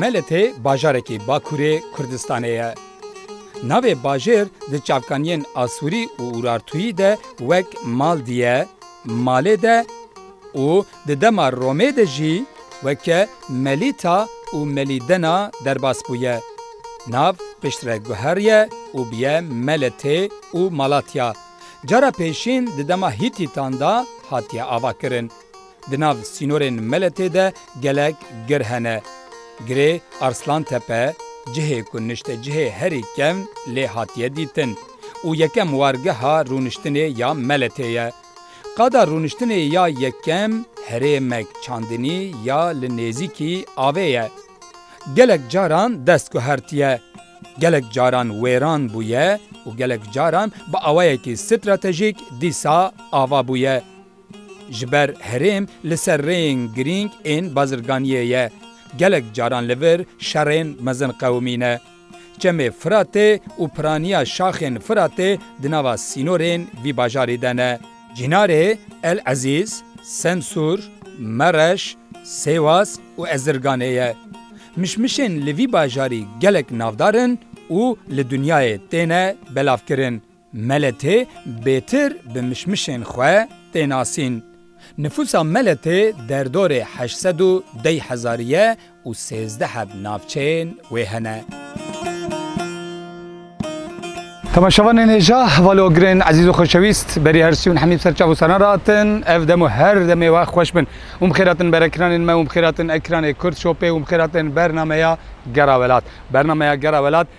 Meletê bajarekî Bakurê Kurdistanê ye. Navê bajêr di çavkaniyên Asûrî û Urartûyî de wek Maldi ye, Malê de, Û di dema Romê de jî weke Melîta û Melîdena derbas bûye. Nav pişt re guheriye û bûye Meletê û Malatya. Cara pêşîn di dema Hîtîtan de hatiye avakirin. Di nav sînorên Meletê de gelek gir hene. Girê Arslantepe, cihê ku nişte cihê herî kevn lê hatiye dîtin û yekem wargeha rûniştinê ya Meletê ye. Qada rûniştinê ya yekem herêmek çandinî ya li nêzîkî avê ye. Gelek caran dest guhertiye, gelek caran wêran bûye û gelek caran bi awayekî stratejîk dîsa ava bûye. Ji ber herêm li ser rêyên girîng ên bazirganiyê ye, gelek caran li vir şerên mezin qewimîne. Çemê Firatê û piraniya şaxên Firatê di nava sînorên vî bajarî de ne. Cînarê El Ezîz, Semsûr, Mereş, Sêwas û Ezirganê ye. Mişmişên li vî bajarî gelek navdar in û li dinyayê têne belavkirin. Meletê bêtir bi mişmişên xwe tê nasîn. Nifûsa Meletê derdorê heşt sed û dey hezarî ye û sêzdeh ev navçeyên wê hene. Temaşevanên hêja, heval û girên ezîz û xoşewîst, berî her sî û hemî bi ser çav û saran re hatin. Ev dem û her demê wext xweş bin. Û bi xêr hatin ber ekranên me û bi xêr hatin ekranê Kurd Shopê û bi xêr hatin bernameya Gera Welat. Bernameya Gera Welat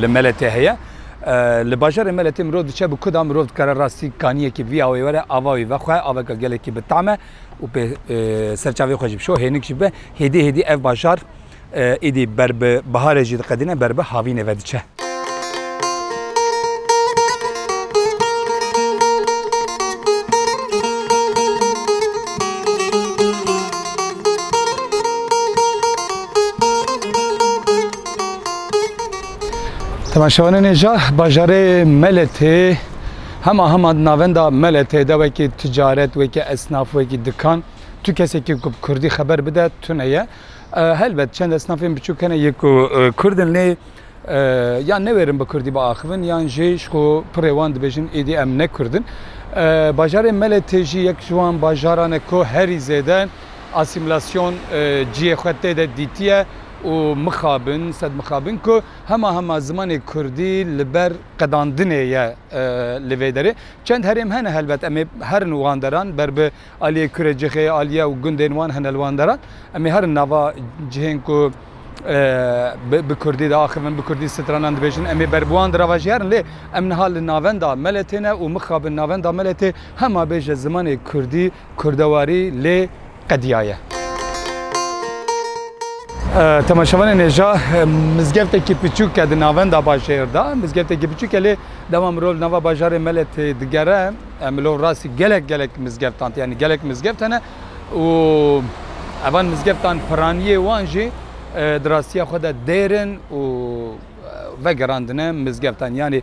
li Meletê heye. Li bajarê Meletê mirov diçe bi ku da mirov dikare rastî kaniyekî bi vî awayê were ava wî ve xwe aveke gelekî bi tam e û pê serçavê xwe jî bişo hênik jî bibe. Hêdî hêdî ev bajar êdî ber bi biharê jî diqedîne ber bi havînê ve diçe. Teman şewanenê ja bajarê Meletê hema hema navenda Meletê de wekî ticaret, wekî esnaf, wekî dikan tu kesekî ku bi Kurdî xeber bide tune ye. Helbet çend esnafên biçûk hene yê ku Kurdin lê ya newêrin bi Kurdî biaxivin yan jî ji ku pirê wan dibêjin êdî em ne Kurdin. Bajarê Meletê jî yek ji wan bajaran e ku herî zêde asîmîlasyon ciyê xwe tê de dîtiye. û mixabin, sed mixabin ku hema hema zimanê kurdî li ber qedandinê ye li vê derê. Çend herêm hene helbet em ê herin wan deran ber bi aliyê Kurê Cixê, Aliye û gundên wan hene li wan deran. Em ê herin nava cihên ku bi kurdî diaxivin, bi kurdî stranan dibêjin em ê ber bi wan di rava jî herin. Lê em niha li navenda Meletê ne û mixabin navenda Meletê hema bêje zimanê kurdî Kurdewarî lê qediyaye. Temaşevanên hêja mizgeftekî piçûk e di navenda bajêr de. Mizgeftekî piçûk e lê dema mirov li nava bajarê me le tê digere mirov rastî gelek gelek mizgeftan tê. Yanî gelek mizgeft hene û evan mizgeftan piraniyê wan jî di rastiya xwe de dêr in û vegerandine mizgeftan. Yanî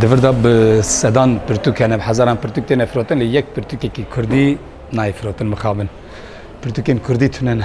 Divirda bi sedan pirtûk hene, bi hezaran pirtûk têne firotin lê yek pirtûkekî Kurdî nayê firotin mixabin. Pirtûkên Kurdî tune ne.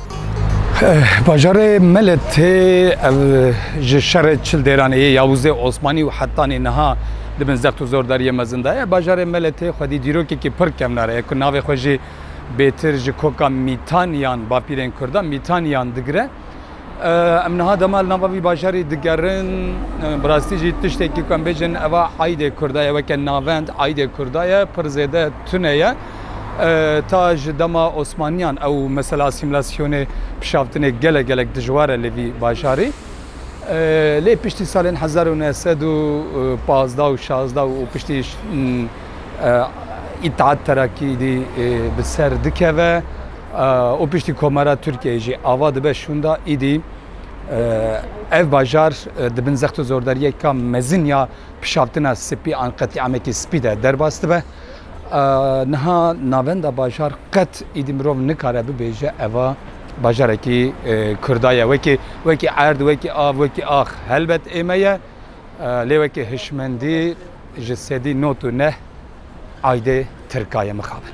Bajarê Meletê ev ji şerê çil dêranê yê Yavuzê Osmanî û hetanî niha di bin zext û zordariyê mezin de ye. Bajarê Meletê xwedî dîrokekî pir kevnar e ku navê xwe jî bêtir ji koka Mîtan yan bapîrên Kurdan Mîtan yan digire. Em niha dema li nava vî bajarî digerin bi rastî jî tiştekî ku em bêjin eva aydê Kurda ye weke navend aydê Kurda ye pir zêde tune ye. Ta ji dema Osmaniyan ew mesela asîmîlasyonê pişavtinê gelek gelek dijwar e li vî bajarî. Lê piştî salên hezar û neh sed û pazdeh û şazdeh û piştî Îttihat Terakîdî bi ser dikeve û piştî Komara Tirkiyeyê jî ava dibe şûnda îdî ev bajar di bin zext û zordariyeka mezin ya pişavtina spî an qetîamekî spî de derbas dibe. Niha navenda bajar qet îdî mirov nikare bibêje eva bajarekî Kurda ye. Wekî wekî erd, wekî av, wekî ax helbet ê me ye. Lê wekî hişmendî ji sedî not û neh aydê Tirka ye mixabin.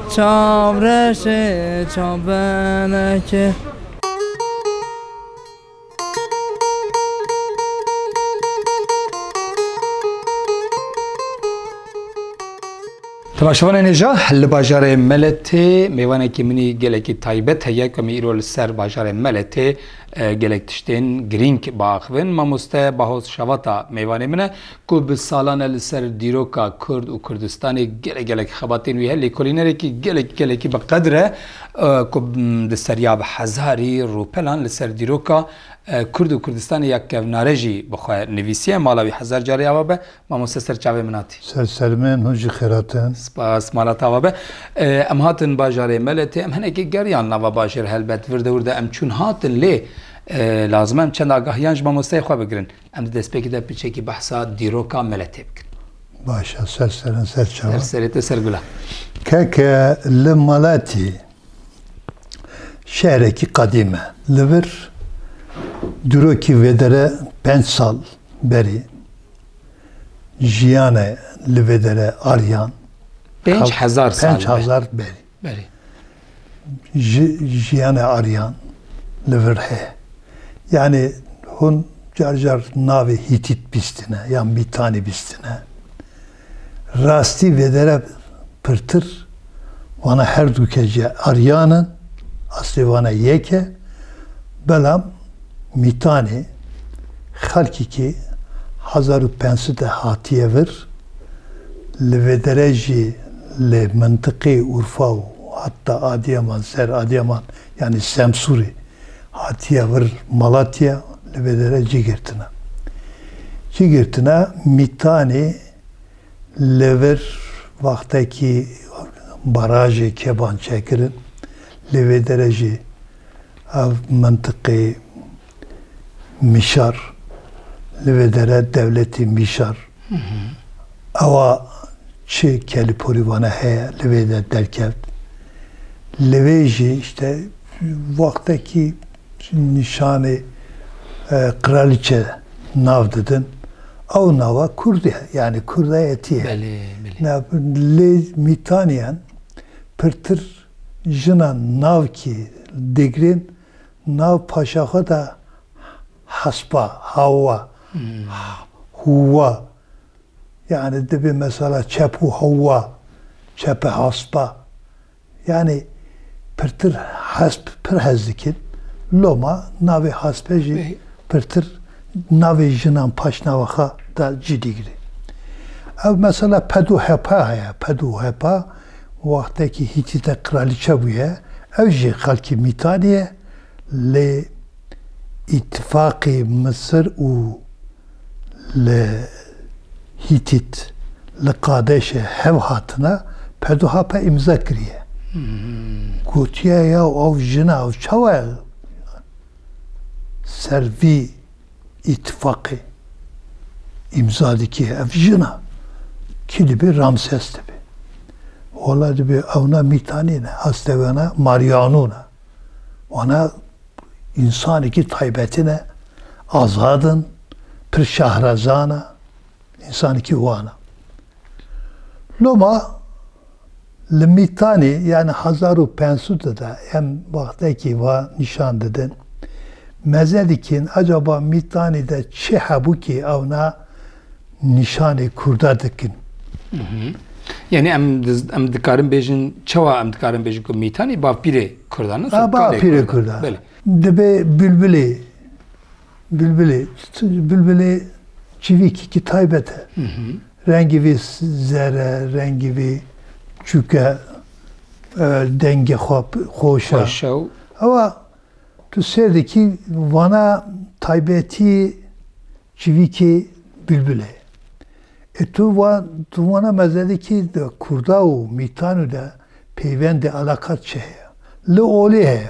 Çav reşê çav benekê. Di başevanê nê ja li bajarê Meletê mêvanekî minî gelekî taybet heye ku me îro li ser bajarê Meletê e, gelek tiştên girîng biaxivin. Mamoste Bahoz Şavata mêvanê min e ku bi salan e li ser dîroka Kurd û Kurdistanê gelek gelek xebat tên wî heye, lêkolînerekî gelek gelekî bi qedir e ku di seriya bi hezarî rûpelan li ser dîroka Kurd û Kurdistanê ya kevnare jî bi xwe nivîsiye. Mala wî hezar carî ava be. Mamoste ser çavê min hatî. Ser sermên hûn jî xêrat in. Spas. Mala te ava be. Em hatin bajarê Meletê. Em hinekê geriyan nava bajêr helbet. Vir dewir de em çûn hatin lê lazim e em çend agahiyan ji mamosteyê xwe bigirin. Em di destpêkê de piçekî behsa dîroka Meletê bikin. Baş e, ser serin ser çawa? Ser serê te ser gula. Keke li Meletê şehrekî qedîm e. Li vir dîrokî vêdere penc sal berî jiyane li vêdere ariyan. Pênc hezar sal. Pênc hezar berî. Berî. ji jiyana Aryan li vir heye. Yanî hûn car car navê Hîtît bîstine yan Mîtanî bîstine. Rastî vêdere pirtir wana herdû ke jî Aryan in, aslê wana yek e, belam Mîtanê xelkî kê hezar û pênc sed de hatiye vir, li vêdere jî li mintiqê Urfa û heta Adiyaman, ser Adiyaman yanî Semsûrê hatiye vir Malatya li vêdere cî girtine. Cî girtine Mîtanê li vir wextekî barajê Keban çekirin, li vêdere jî Ev mintiqê Mişar, li vê dere dewletê Mişar, ewa çi kelîporî vane heye li vê de derkevt. Li vê jî îşte wextekî nîşanê qiraliçe nav didin, ew nava Kurdî ye, yanî Kurda yetî ye. Lê mîtaniyan pirtir Jina navkî li Dêgrên nav paşa xwe de Hespa, Hawa, Hûwa yanî dibê mesela Çepû Hewa, Çepe Hespa yanî pirtir hesp pir hez dikin. Loma navê Hespe jî pirtir navê jinan paşnava xwe de cî digire. Ew mesela Pedû Hepa heye, Pedû Hepa. Wextekî Hîtîte qiralîçe bûye, ew jî xelkê Mîtanê ye, lê îtîfaqê Misir û li Hîtît li Qadeşê hev hatine, Peduhape îmza kiriye. Gotiye ya ew jina ew çawa ser vî îtîfaqê îmza dike ev jina kî dibe Ramses dibe. Wala dibe ewna mîtanî ne heste wena Mariano ne. Wana insanekî taybetî ne azadin pir şahrezana Însanikî wan e. Loma li Mîtanê yani hezar û pênc sed de de em wextekî va nîşan didin. Meze dikîn acaba Mîtanê de çi hebû kî ewna nîşanê Kurda dikin. Yani em em dikarin bêjin çawa em dikarin bêjin ku Mîtanê bavpîrê Kurdan e? Bavpîrê Kurdan. Dibê Bülbülê Bilbilê, bilbilê çivîkîkî taybet e. Rengê vê zer e, rengê vê çûk e, dengê xwe xweş e. Ewa tu sêr dikî vana taybetî çivîkê bilbilê. E tu va tu vana mezelîkî de kurda û mîtanû de peywendê eleqat çi heye? Li olê heye.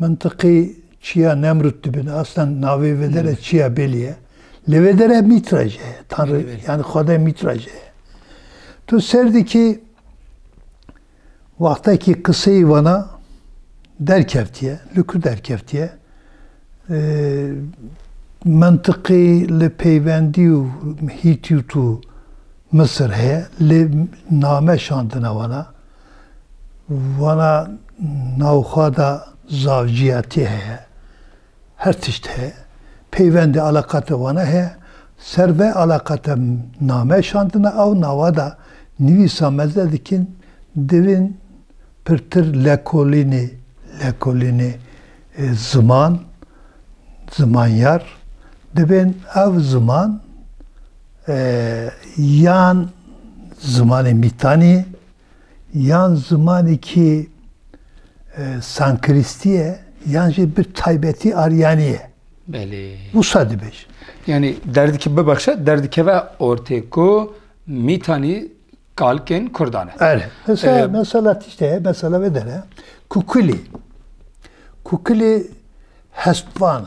Mintiqê çiya Nemrut dibin. Aslan navê vê dere çiya Bêlî ye. Lê vê dere Mîtra jî heye. Tanrı yani Xwedayê Mîtra jî heye. Tu ser dikî wextekî qiseyê wana derkevtiye, li ku derkevtiye mintiqê li peywendî û Hîtît û Misir heye lê name şandine wana. Wana navxwe de zavciyetî heye. Her tişt heye. Peyvendê eleqate wana heye. Ser vê eleqate name şandine ew nawe de nivîsa me ze dikin divin pirtir lekolînê lekolînê ziman zimanyar dibên ev ziman yan zimanê mîtanî yan zimanekî sankristî ye yan jî bi taybetî aryanî ye. Belê. Wisa dibêjin. Yanî derdikî bibexşe derdikeve ortê ku mîtanî kalkên kurdan e. Ere. Mesela, mesela tiştê ye, mesela vê dere. Kukilî. Kukilî hestvan e.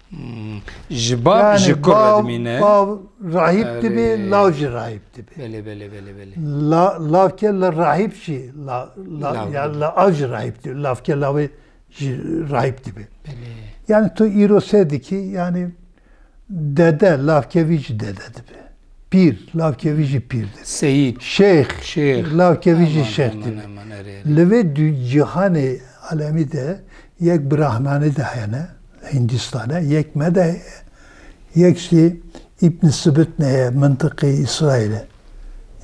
Ji bav ji kur re dimîne. Bav rahîb dibê, lav jî rahîb dibê. Belê belê belê belê. La lavke li rahîb jî la la ya li av jî rahîb dibê. Lavke lavê jî rahîb dibê. Yani tu îro sê dikî yani dede lavke vî jî dede dibê. Pîr lavke vî jî pîr dibê. Seyîd. Şêx. Şêx. Lavke vî jî şêx dibê. Li vê cihanê alemî de Yek Brahmani de hene li Hindîstane, yek me de heye, yek jî Îbn Sibitn heye mintiqê Îsraîlê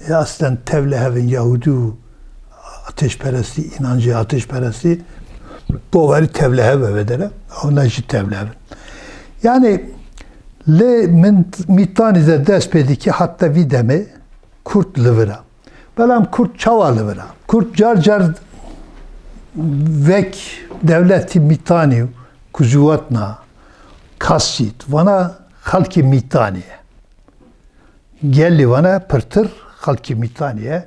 ye. Eslen tevle hev in Yahûdî û atêşperestî, înancê atêşperestî bawerî tevle hev e vedere, ewna jî tevle hev in. Yanî lê min mîtanî de dest pê dike heta vî demê Kurd li vir e. Belam Kurd çawa li vir a? Kurd car car vek dewletî mîtanî û kuzuwatna kasît vana xelkê mîtanî ye. Gelê vana pirtir xelkê mîtanî ye.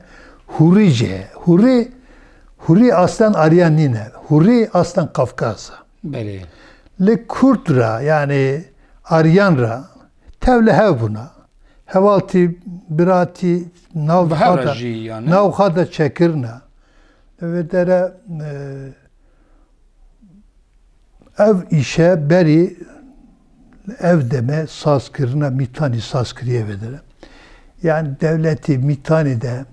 Hûrî jî heye. Hûrî hûrî aslan aryan nîne. Hûrî aslan Kafkas e. Belê. Li Kurd re yanî Aryan re tev li hev bûna. Hevaltî, biratî navxwe de çekirine. Li vê dere ev îşe berî li ev demê sazkirina mîtanî saz kiriye vê dere. Yanî dewletê mîtanî de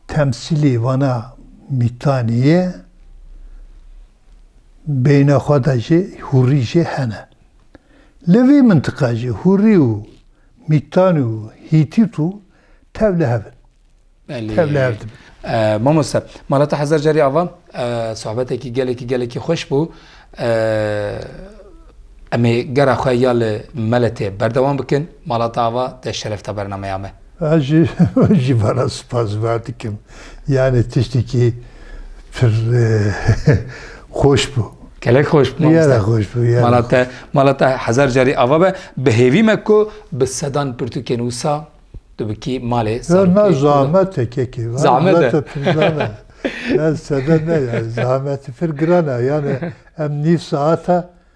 temsîlî vana mîtanî ye. beyna xwe de jî hûrî jî hene. Li vî mintiqa jî hûrî û mîtanî û hîtît û tev li hev in. Tev li hev dibin. Mamoste, mala te hezar carî ava. Sohbetekî gelekî gelekî xweş bû. Em ê gera xwe ya li Meletê berdewam bikin. Mala te ava te şerefta bernameya me. Ez jî wê jî van a spas van dikim. Yanî tiştekî pir xweş bû. Gelek xweş bû mamoste. Gelek xweş bû. Mala te, mala te hezar carî ava be. Bi hêvî me ku bi sedan pirtûkên wisa tu bi kî malê serokê. Na zahmet e kekê. Zahmet e. Ez sede ne ya. Zahmet pir giran e. Yanî em nîv saeta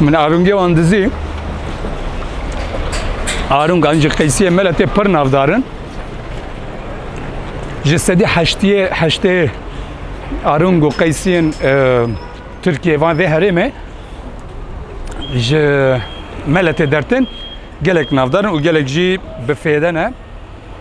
Min arûngê wan dizî. Arûngan ji qeysiyê me le tê pir navdarin. Ji sedî heştiyê heştê arûng û qeysiyên e, Tirkiyê van vê herêmê ji me le tê dertin gelek navdarin û gelek jî bi fêde ne.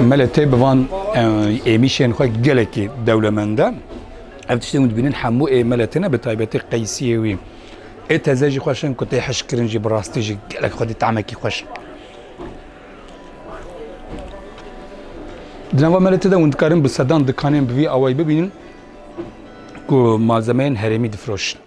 Mele tê bi van êmîşên xwe gelekî dewlemend e. Ev tiştên hûn dibînin hemû ê mele têne bi taybetî qeysiyê wî. Ê teze jî xweş in ku tê hişkirin jî bi rastî jî gelek xwedî tahmekî xweş in. Di nava mele tê de hûn dikarin bi sedan dikanên bi vî awayî bibînin ku malzemeyên herêmî difroşin.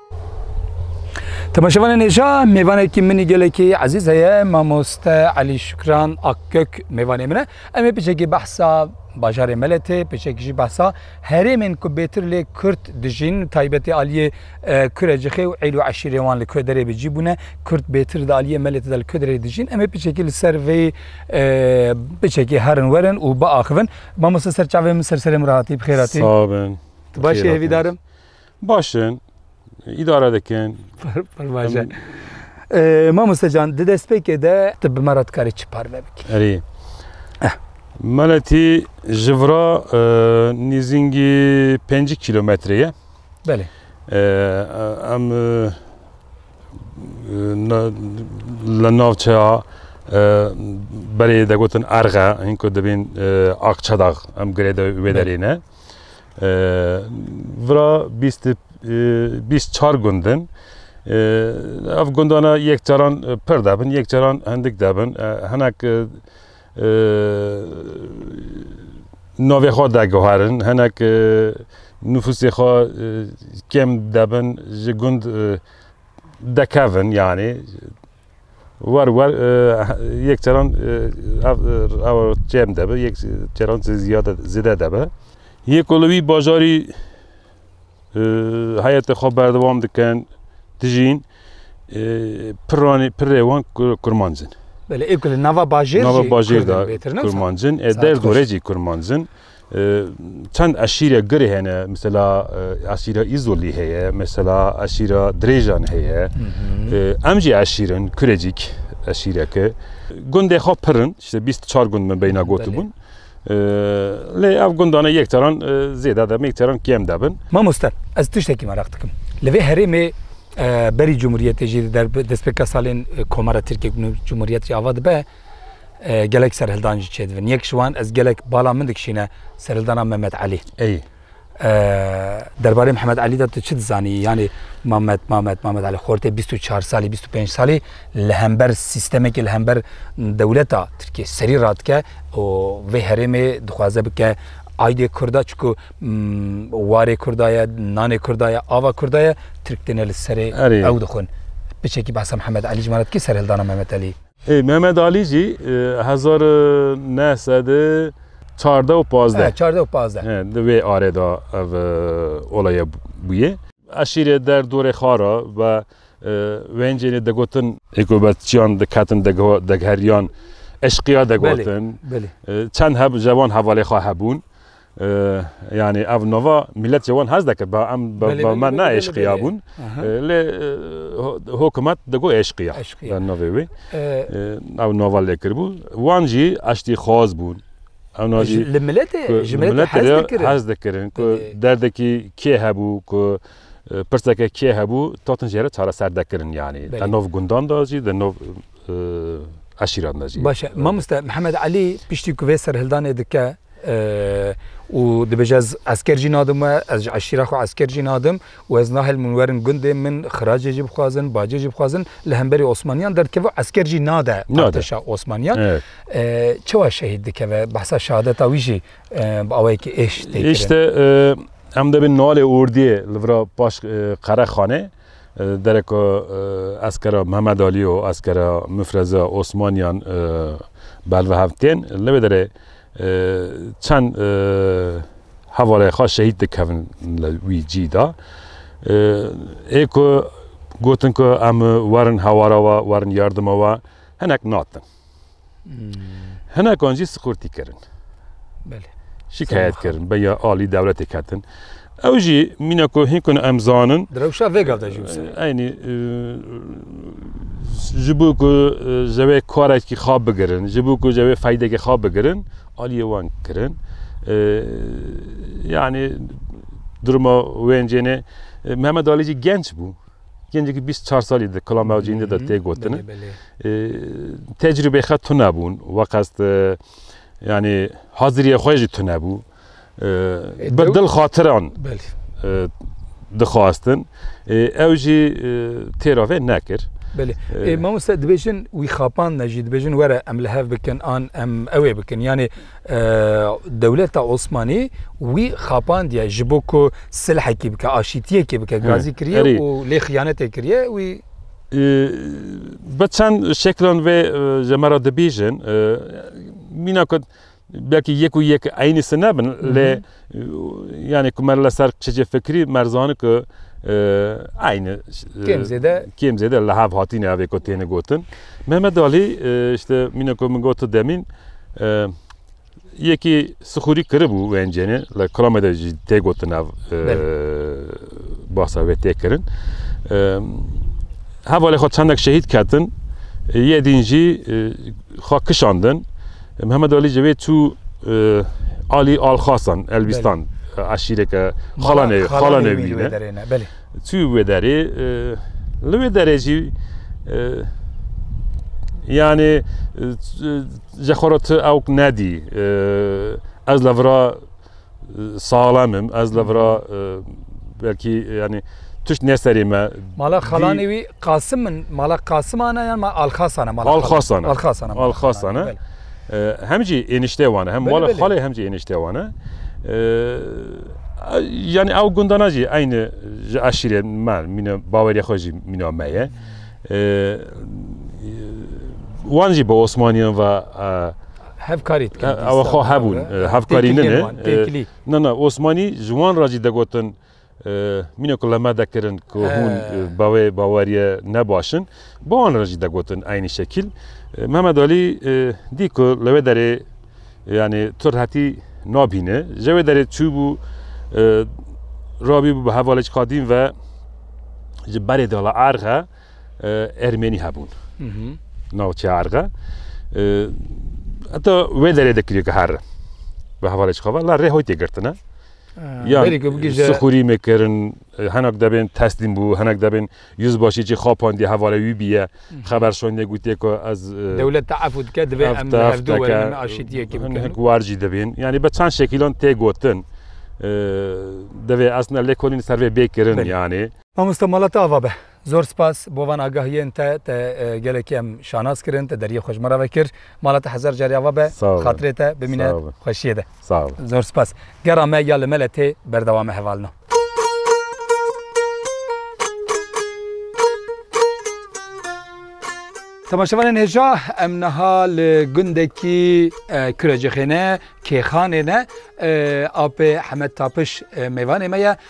Temaşevanê nêja mêvanekî minî gelekî ezîz heye mamoste Elî Şukran Akgök mêvanê min e. Em ê piçekî behsa bajarê Meletê, piçekî jî behsa herêmên ku bêtir lê Kurd dijîn, taybetî aliyê e, Kurecixê û Eylû eşîrê wan li Koderê bi cî bûne. Kurd bêtir di aliyê Meletê de li Koderê dijîn. Em ê piçekî li ser vê e, piçekî herin werin û biaxivin. Mamoste ser çavê min ser serê min re hatî, bi xêr hatî. Sağ olun. Tu baş Buyur efendim. hêvîdarim. Başin, îdare dikin. Pervaje. Mamoste can, di destpêkê de tu bi me re dikarî çi parve bikî? Erê. Eh. Meletî ji vira e, nêzîngî pêncî kîlometre ye. Belê. E, e, em e, na- li navçeya e, berê degotin erxe, hîn ku dibên e, Akçedax em girê de wê derê ne. Vira bîst bîst çar gund in. Ev gundana yek caran pir debin, yek caran hindik debin. Hinek navê xwe daguherin, hinek nüfusê xwe kêm debin, ji gund dekevin yanî. War war yek caran ev ew çem debe yek caran ziyade zêde debe. Yê ku li wî bajarî heyetê xwe berdewam dikin, dijîn piranê pirê wan kurmanc in. Belê ev ku li nava bajêr jî kurmancin, ê der gorê jî kurmanc in. Çend eşîre girê hene, mesela eşîra Îzolî heye, mesela eşîra Dirêjan heye. Em jî eşîrin, Kurecîk eşîreke. Gundê xwe pir in, işte bîst û çar gund min beyna gotibûn. Lê ev gundane yek caran zêde dibin, yek caran kêm dibin. Mamoste, ez tiştekî meraq dikim. Li vê herêmê berî Cumhuriyetê jî destpêka salên Komara Tirkiye ku nû Cumhuriyet jî ava dibe, gelek serhildan jî çêdibin. Yek ji wan ez gelek bala min dikişîne serhildana Mehmet Elî. Ey. Derbarê Mehmet Elî de tu çi dizanî? Yanî Mehmet Mehmet Mehmet Elî xortê 24 salî 25 salî li hember sîstemekê li hember dewleta Tirkiye serî radike û vê herêmê dixwaze bike aydê Kurda çku warê Kurda ye, nanê Kurda ye, ava Kurda ye, Tirk têne li serê ew dixwin. Piçekî behsa Mehmet Elî ji mala dikê serhildana Mehmet Elî. Mehmet Alî jî hezar û neh sed û çardeh û pazdeh çardeh û pazdeh di wê arê de ev olaya bûye. Eşîrê der dorê xara ve wêncênê digotin. Hêkûbetçiyan diketin degheriyan eşqîya digotin. Çend hev cewan hevalê xwe hebûn. Yanî ev nava mîletê wan hez deke ba em ba me ne eşqiya bûn lê hokumet digo eşqiya eşqiya navê wê ew nava lê kiribû wan jî eştîxwaz bûn li miletê ji miletê hez dikirin ku derdekî kê hebû ku pirseke kê hebû tatin jê re çareser dekirin yanî di nav gundan de jî di nav eşîran de jî. Baş e mamoste Mihemed Elî piştî ku vê serhildanê dike Û dibêje ez esker jî nadim we, ez ji eşîra xwe esker jî nadim û ez nahêlim hûn werin gundê min, xiracê jî bixwazin, bacê jî bixwazin, li hemberî Osmaniyan derdikeve, esker jî nade artêşa Osmaniyan. Çawa şehîd dikeve? Behsa şehadeta wî jî bi awayekî êş tê kirin. Îşte em dibin nalê ordiyê li vir paş qerexanê. Dereka eskera Mihemed Alî û eskera Mifreze Osmaniyan bervihev tên. Li vê derê çend hevalê xwe şehîd dikevin li wî cî de. Ê ku gotin ku em werin hewara we, werin yardima we hinek natin. Hinekan jî siqurtî kirin. Belê. Şikayet kirin, beya alî dewletê ketin. Ew jî mîna ku hîn ku em zanin Direwşa vê gav de jî wisa. Eynî ji bo ku ji wê karekî xwe bigirin, ji bo ku ji wê feydekê xwe bigirin, aliyê wan kirin. Yani duruma wêncêne Mehmet Ali genç bû. Gencekî bîst çar salî di kula mewcîndê de tê gotin. Tecrûbê xet tune bûn we qest yanî haziriyê xwe jî tune bû. Bi dil xatiran dixwastin ew jî têra vê nekir. Belê mamoste dibêjin wî xapan ne jî dibêjin were em li hev bikin an em ewê bikin yanê Dewleta Osmanî wî xapandiye ji bo ku silhekî bike, aşîtiyekê bike, gazî kiriye û lê xiyanetê kiriye wî. Bi çend şeklan vê ji me re dibîjin. Mîna ku belkî yek û yek eynî sin nebin lê. Yani ku mer li ser çicê fikrî mer zani ku aynı kêm zêde kêm zêde li hev hatîne evê ku têne gotin. Mehmet Alî işte mîne ku min gotu demîn yekî sixûrî kiribû wencêne li kilamê de jî tê gotin ev basa wê tê kirin. Hevalê xwe çendek şehîd ketin yê dîn jî xwe kişandin. Mihemed Alî Cevê çû Alî Alxasan Elbîstan eşîreke xalanê xalanê wî ne çû wê derê li wê derê jî yanê ji xwe re tu ew nedî ez li vira Saxlemim ez li vira e, belkî yani tişt ne serê me. Mala xalanê wî Qasim min mala Qasiman e yan ma Alxasan e mala Alxasan e. Alxasan e. Alxasan e. Hem jî ênişte wan e hem mala xalê hem jî ênişte wan e. Yani ew gundana jî eyni ji eşîrê me mîne bawerê xwe jî mîna me ye. Wan jî bi Osmaniyan ve Hevkarî dikin. Ew xwe hebûn. Hevkarî nine. Na na Osmanî ji wan re jî degotin mîne ku leme dekirin ku hûn bi wê baweriye ne baş in. Bi wan re jî degotin eynî şekîl. Mehmet Alî dî ku li wê derê yanî tu rehetî nabîne. Ji wê derê çûbû rabîbû bi hevalêk qadîm ve ji berê dala erxe. Ermenî hebûn navçeya Erxe heta wê derê de kiriye her bi hevalê xava la rê hoy tê girtine xûrî mekirin henak debên teslîm bû henek debên yüz başî çi xapan diye hevalê wî biye xeber şonê gutiye ku ez dewlet te efû dike divê em warcî dibên yanî be çend şekîlan tê gotin devê esna lêkolîn servê bê kirin yanê Mamoste mala te ava be. Zor spas bo van agahiyên te, te gelekî em şanas kirin, te deriyê xwe ji me re vekir. Mala te hezar carî ava be, xatirê te bimîne xweşiyê de. Zor spas. Gera me ya li me le tê berdewam e hevalina. Temaşevanên hêja em niha li gundekî Kurecixêne, Kêxanê ne, apê Hemed Tapiş mêvanê me ye.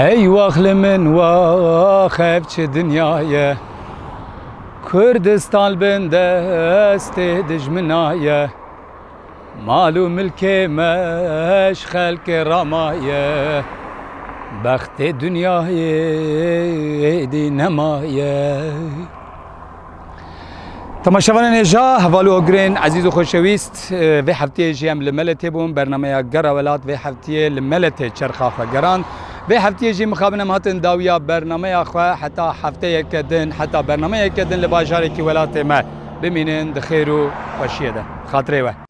Hey waxli min wax ev çi dinyaye Kurdistan bin destê dijminaye Mal û milkê me ji xelkê ramaye Bextê dinyayê êdî nemaye Temaşevanên hêja heval û hogirên ezîz û xweşewîst vê heftiyê jî em li me tê bûn bernameya Gera Welat vê heftiyê li me tê çerxa xwe gerand. Vê heftiyê jî mixabin em hatin dawiya bernameya xwe heta hefteyeke din heta bernameyeke din li bajarekî welatê me. Bimînin di xêr û xweşiyê de. Xatirê we.